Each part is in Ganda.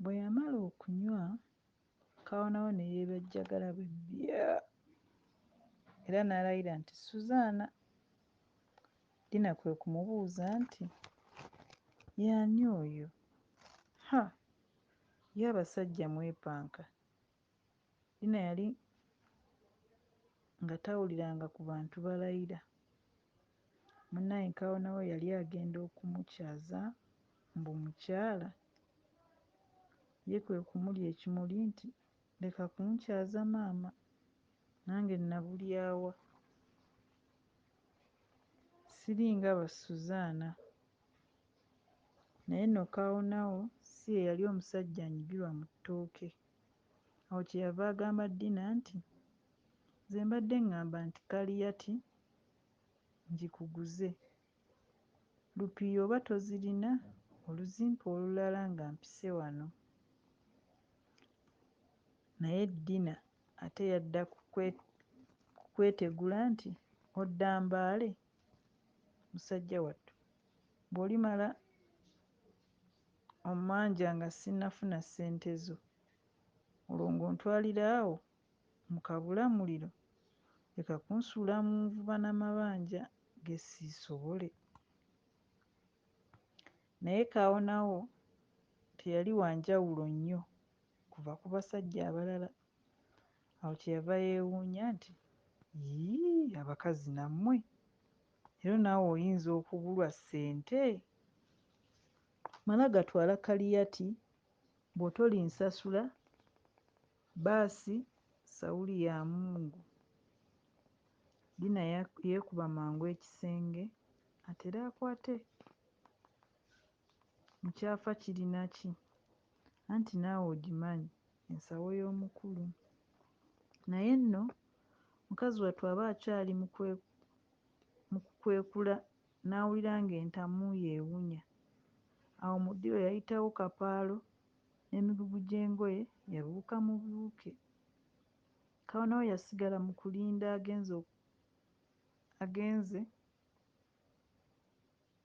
Bwe yamala okunywa, Kaawonawo ne yeebejjagala bwe bya era n'alayira nti, Suzaana! Dina kwe kumubuuza nti, Y'ani oyo? Ha, ye abasajja mwepanka! Dina yali nga tawuliranga ku bantu balayira. Munnaye Nkaawa nawe yali agenda okumukyaza mbu mukyala. Ye kwe kumulya ekimuli nti, Leka kunkyaza maama, nange nnabulya wa? Siringa ba Suzaana. Naye nno Kaawonawo si ye yali omusajja anyigirwa mu ttooke. Awo kye yava agamba Dina nti, Nze mbadde ŋŋamba nti Kaliyati ngikuguze. Lupiiya oba tozirina oluzimpa olulala nga mpise wano. Naye Dina ate yadda ku kwetegula nti, Odda Mbale musajja wattu? Bw'olimala ommanja nga ssinnafuna ssente zo, olwo ng'ontwalira awo mu kabulamuliro? Leka kunsuula mu nvuba na mabanja ge siisobole. Naye Kaawonawo teyali wa njawulo nnyo kuva ku basajja abalala. Awo kye yava yeewuunya nti, Yii, abakazi nammwe! Lero naawe oyinza okubulwa sente. Mala gatwala kaliyati bwotoli nsasula basi sauli ya mungu. Dina yekuba mangu ekisenge atere akwate. Mukyafa kirina ki? Anti naawe ogimanyi ensawo y'omukulu. Naye nno mukazi wattu aba akyali mu kukwekula n'awulira ng'entamu ye ewunya. Awo mu ddiiro yayitawo kapaalo n'emigugu gy'engoye yabiwuka mu biwuke. Kawonawo yasigala mu kulinda agenze agenze.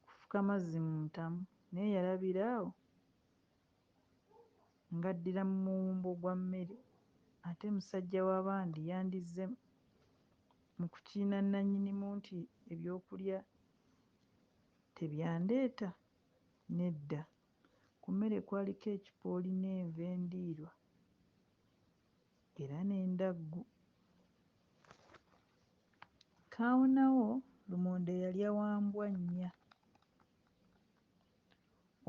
kufuka mazzi mu ntamu naye yalabira awo ng'addira mu muwumbo gwa mmere ate musajja wa bandi yandizze mu kukiina nnannyinimu nti ebyokulya tebyandeeta? Nedda, ku mmere kwaliko ekipooli n'enva endiirwa. era n'endaggu. Kaawonawo lumonde yalya wa mbwa nnya.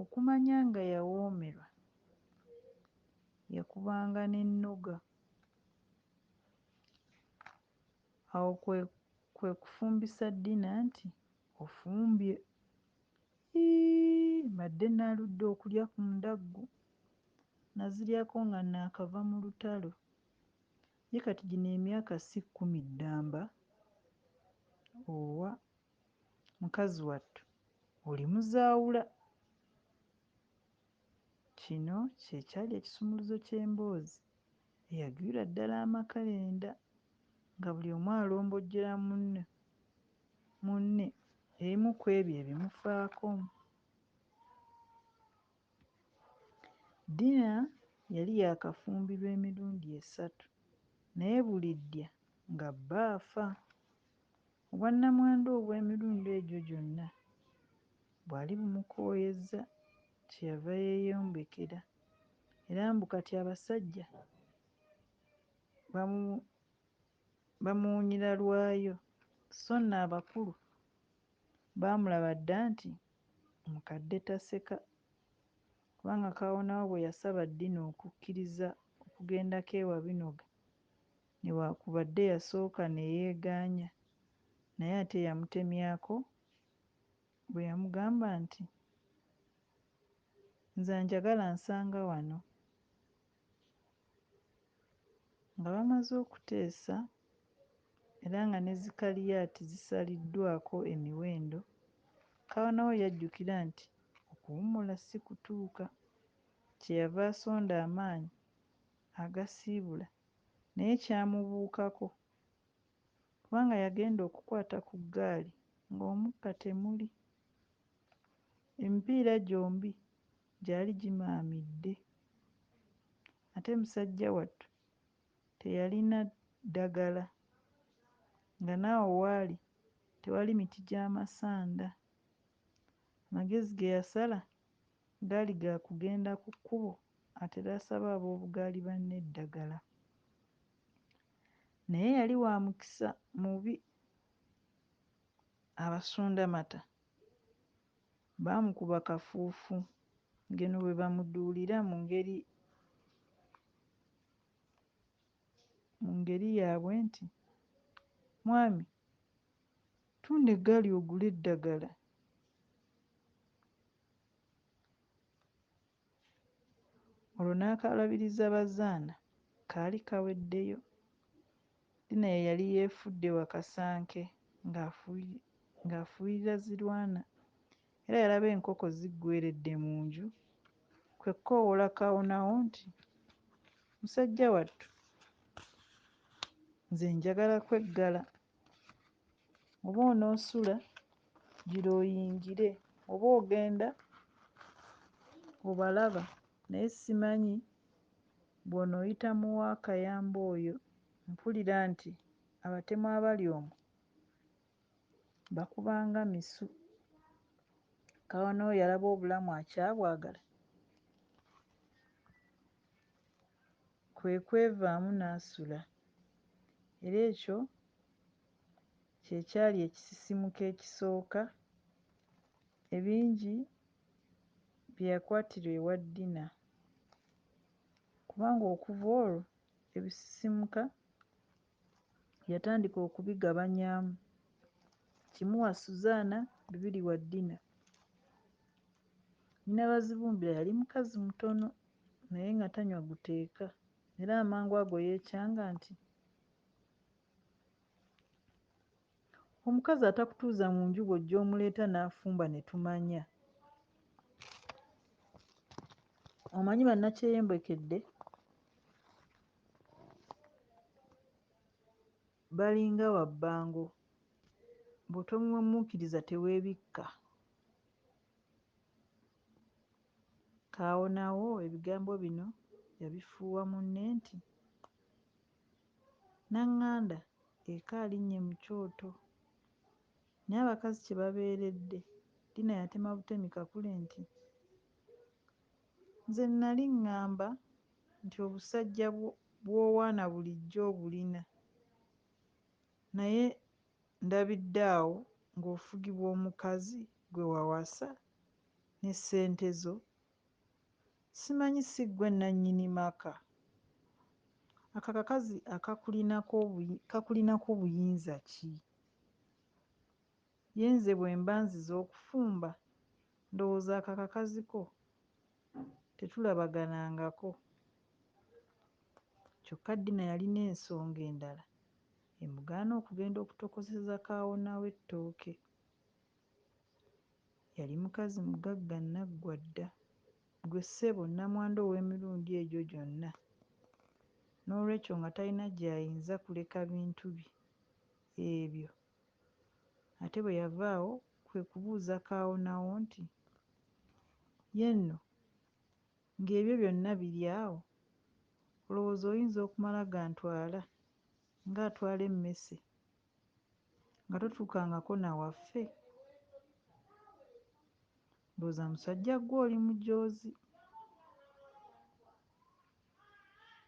Okumanya nga yawoomerwa, yakubanga n'ennoga. Awo kwe kwe kufumbisa Dina nti, Ofumbye! Ii, mbadde nnaaludde okulya ku ndaggu. Naziryako nga naakava mu lutalo. Ye kati gino emyaka ssi kkumi ddamba owa mukazi wattu oli muzaawula. Kino kye kyali ekisumuluzo ky'emboozi eyagwira ddala amakerenda nga buli omu alombojjera munne munne ebimu kw'ebyo ebimufaako. Dina yali yaakafumbirwa emirundi esatu naye buli ddya nga bba afa. Obwannamwandu obw'emirundi egyo gyonna bwali bumukooyezza kye yava yeeyombekera era mbu kati abasajja bamu bamuwunyira lwayo sso nno abakulu baamulaba dda nti Mukadde taseka kubanga Kaawonawo bwe yasaba Dina okukkiriza okugendako ewa Binoga newaakubadde yasooka ne yeegaanya naye ate yamutemyako bwe yamugamba nti, Nze anjagala ansanga wano. Nga bamaze okuteesa era nga ne Zikaliyaati zisaliddwako emiwendo, Kaonawo yajjukira nti okuwummula si kutuuka. Kye yava asonda amaanyi agasiibula naye kyamubuukako kubanga yagenda okukwata ku ggaali ng'omukka temuli. Emipiira gyombi gyali gimaamidde ate musajja wattu teyalina ddagala nga n'awo waali tewali miti gya masanda. Amagezi ge yasala gaali ga kugenda ku kkubo atere asabe ab'obugaali banne eddagala. Naye yali wa mukisa mubi abasundamata Baamukuba kafuufu ng'eno bwe bamuduulira mu ngeri mu ngeri yaabwe nti, Mwami, tunda eggaali ogule eddagala. Olwo n'akaalabiriza Bazaana kaali kaweddeyo. Dina ye yali yeefudde wa Kasanke ng'afuuyirira Zirwana era yalaba enkoko ziggweeredde mu nju kwe kukoowoola Kawonawo nti, Musajja wattu nze njagala kweggala. oba onoosula gira oyingire oba ogenda obalaba naye simanyi bw'onooyita mu wa Kayamba oyo mpulira nti abatemu abali omwo bakuba nga misu. Kawa n'oyo alaba obulamu akyabwagala. kwe kwevaamu n'asula, era ekyo kye kyali ekisisimuka ekisooka ebingi bye yakwatira ewa Dina, kubanga okuva olwo ebisisimuka Yatandika okubigabanyaamu, kimu wa Suzaana, bibiri wa Dina. Nnyina Bazibumbira yali mukazi mutono naye nga tanywa guteeka era amangu ago yeecanga nti, Omukazi atakutuuza mu nju bw'ojja omuleeta n'afumba ne tumanya. Omanyi bannakyeyembekedde balinga wabbango, bw'otomuwemmuukiriza teweebikka. Kaawonawo ebigambo bino yabifuuwa munne nti. Nanganda eka alinnye mu kyoto. Naye abakazi kye babeeredde! Dina yatema butemi Kakule nti, Nze nnali ŋŋamba nti obusajja bw'owaana bulijjo obulina naye ndabidde awo ng'ofugibwa omukazi gwe wawasa ne ssente zo Simanyi si ggwe nnannyini maka? Ako akakazi kakulinako buyinza ki? Ye nze bwe mba nzize okufumba ndowooza ako akakazi ko tetulabaganangako. Kyokka Dina yalina ensonga endala emugaana okugenda okutokoseza kaawonawe ttooke. Yali mukazi mugagga nnaggwa dda. Ggwe ssebo nnamwandu ow'emirundi egyo gyonna. N'olwekyo nga talina gy'ayinza kuleka bintu bye ebyo. Ate bwe yava awo, kwe kubuuza kaawonawo nti, Ye nno, nga ebyo byonna biri awo, olowooza oyinza okumala gantwala, nga atwala emmese nga totuukangako na waffe? Ndowooza musajja ggwe oli mujoozi.